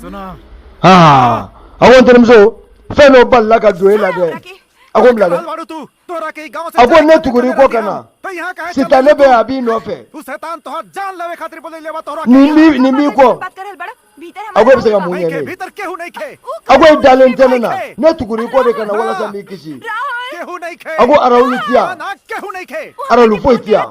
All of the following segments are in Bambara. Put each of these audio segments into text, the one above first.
sona aa a ko n terimuso fɛn dɔ balala ka don e la dɛ a ko n bila dɛ a ko ne tugur'i kɔ ka na sita ne bɛ a b'i nɔfɛ nin b'i nin b'i kɔ a ko e bɛ se ka mun ɲɛ ne ye a ko e dalen tɛ ne na ne tugur'i kɔ de ka na walasa n b'i kisi a ko arawuli ti yan arawuli foyi ti yan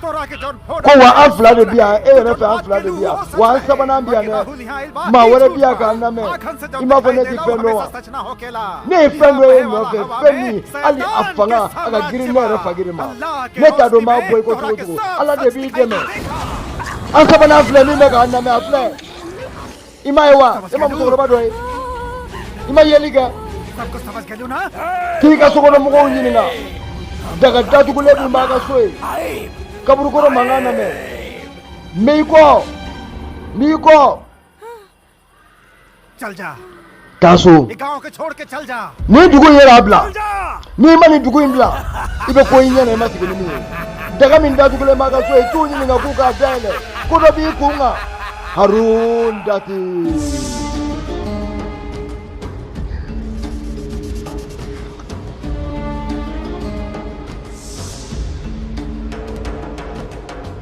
ko wa an fila de bi yan e yɛrɛ fɛ an fila de bi yan wa an sabanan bi yan dɛ maa wɛrɛ bi yan k'an lamɛn i m'a fɔ ne ti fɛn dɔn wa ne ye fɛn dɔ y'i nɔfɛ fɛn min hali a fanga a ka girin ne yɛrɛ fakiri ma ne t'a dɔn n b'a bɔ i kɔ cogo o cogo ala de b'i dɛmɛ an sabanan filɛ min bɛ k'an lamɛn a filɛ i m'a ye wa e ma musokɔrɔba dɔ ye i ma yeli kɛ k'i ka sokɔnɔ mɔgɔw ɲininka daga datugulen min b'a ka so yen kaburukɔrɔ mankan lamɛn min b'i kɔ min b'i kɔ taa so nin dugu in yɛrɛ bila n'i ma nin dugu in bila i bɛ ko y'i ɲɛ na i ma sigi ni min ye daga min datugulen b'a ka so yen t'u ɲininka k'u k'a dayɛlɛ ko dɔ b'i kun kan harun dati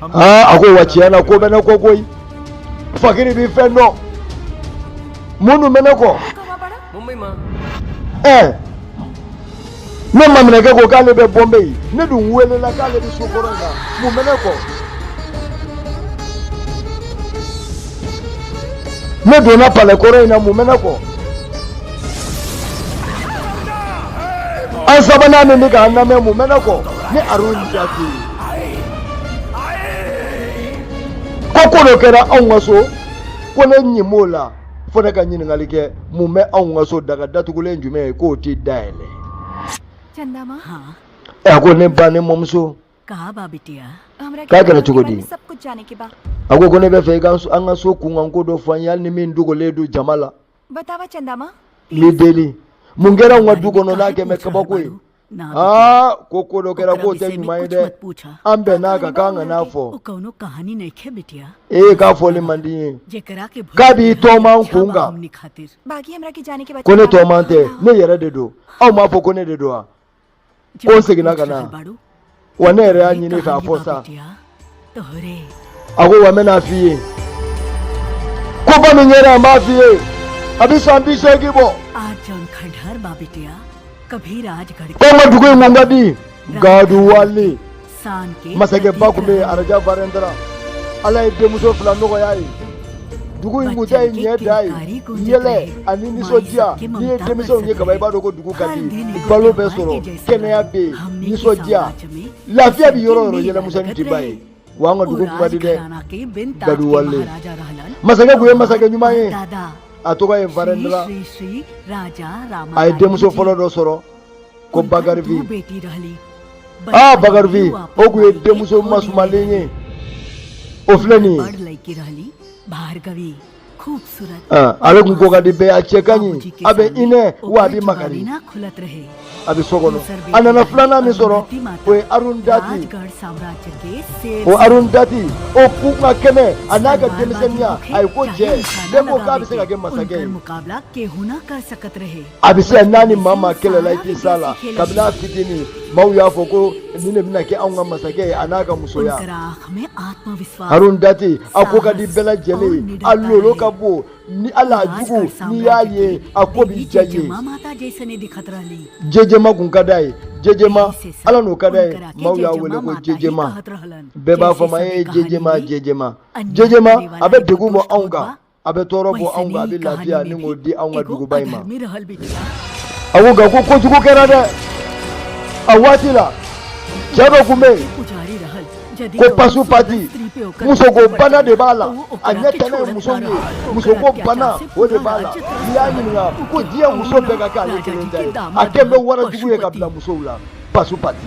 a ko wa tiɲɛ na ko bɛ ne kɔ koyi fakiri bi fɛn dɔn mun bɛ ne kɔ ɛɛ ne maminɛkɛ ko k'ale bɛ bɔnbɛ yen ne dun welela k'ale bɛ so kɔrɔ in na mun bɛ ne kɔ ne donna palɛ kɔrɔ in na mun bɛ ne kɔ an sabanan min bɛ k'an lamɛn mun bɛ ne kɔ ni aroni jate ye. ko ko dɔ kɛra anw ka so ko ne ɲin b'o la fo ne ka ɲininkali kɛ mun bɛ anw ka so daga datugulen jumɛn ye k'o tɛ dayɛlɛ a ko ne ba ne mɔmuso k'a kɛra cogo di a ko ko ne b'a fɛ i ka an ka so kunkanko dɔ fɔ an ye hali ni min dogolen don jama la n b'i deli mun kɛra anw ka du kɔnɔ n'a kɛ mɛ kabako ye a ko ko dɔ kɛra k'o tɛ ɲuman ye dɛ an bɛnna a kan k'an kan'a fɔ ee k'a fɔli man di n ye k'a b'i tɔɔman kun kan ko ne tɔɔman tɛ ne yɛrɛ de don aw m'a fɔ ko ne de don wa ko n seginna ka na wa ne yɛrɛ y'a ɲini k'a fɔ sa a ko wa n bɛn'a f'i ye koba min kɛra an b'a f'i ye a bɛ san bi seegin bɔ ko n ka dugu in kun ka di gaduwali masakɛba tun bɛ yen a raja varɛndra ala ye denmuso fila nɔgɔya a ye dugu in kun ta ye ɲɛda ye yɛlɛ ani nisɔndiya n'i ye denmisɛnw ye kaba i b'a dɔn ko dugu ka di balo bɛ sɔrɔ kɛnɛya bɛ yen nisɔndiya lafiya bɛ yɔrɔ yɔrɔ yɛlɛmisɛnnin tɛ ban yen wa an ka dugu kun ka di dɛ gaduwali masakɛ kun ye masakɛ ɲuman ye a tɔgɔ ye varɛndra a ye denmuso fɔlɔ dɔ sɔrɔ ko bagarafi aa bagarafi o kun ye denmuso masumalen ye o filɛ nin ye ale kun ko ka di bɛɛ a cɛ ka ɲi a bɛ hinɛ wa a bɛ makari a bɛ so kɔnɔ a nana filanan min sɔrɔ o ye arun dati o arun dati o kun ka kɛnɛ a n'a ka denmisɛnninya a ye ko jɛ bɛɛ ko k'a bɛ se ka kɛ masakɛ ye a bɛ se ka n'a ni maa maa kɛlɛla i tɛ s'a la kabini a fitinin maaw y'a fɔ ko nin de bɛna kɛ anw ka masakɛ ye a n'a ka musoya harun dati a ko ka di bɛɛ lajɛlen ye a lolo ka bon ni ala a jugu n'i y'a ye a ko bɛ diya i ye jɛjɛma kun ka d'a ye jɛjɛma ala n'o ka d'a ye maaw y'a wele ko jɛjɛma bɛɛ b'a fɔ a ma e ye jɛjɛma jɛjɛma jɛjɛma a bɛ degun bɔ anw kan a bɛ tɔɔrɔ bɔ anw kan a bɛ lafiya ɲini k'o di anw ka duguba in ma a ko nka ko kojugu kɛra dɛ a waati la cɛ dɔ kun bɛ yen ko pasu pati musoko bana de b'a la a ɲɛ tɛnɛ ye muso ye musoko bana o de b'a la n'i y'a ɲininka ko diɲɛ muso bɛɛ ka kɛ ale kelen ta ye a kɛlen bɛ warajugu ye ka bila musow la pasu pati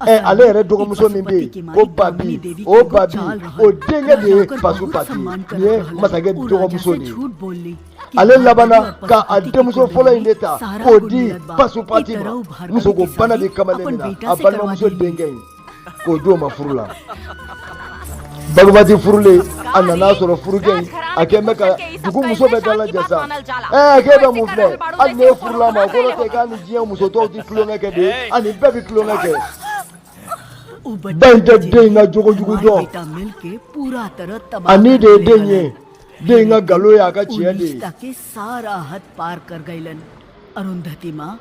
ɛ ale yɛrɛ dɔgɔmuso min bɛ yen ko babi o babi o denkɛ de ye pasu pati nin ye masakɛ dɔgɔmuso de ye ale labanna ka a denmuso fɔlɔ in de ta k'o di pasu pati ma musoko bana de kamalen na a balimamuso denkɛ in k'o di o ma furu la bagabati furulen a nan'a sɔrɔ furukɛ in a kɛlen bɛ ka dugu muso bɛɛ dalajɛ sa ɛɛ k'e bɛ mun filɛ hali n'e furula a ma kɔrɔ tɛ k'a ni diɲɛ muso tɔw tɛ tulonkɛ kɛ dɛ a ni bɛɛ bɛ tulonkɛ kɛ ba in tɛ den in ka jogo jugu dɔn ani den ye den ye den in ka nkalon ye a ka tiɲɛ de ye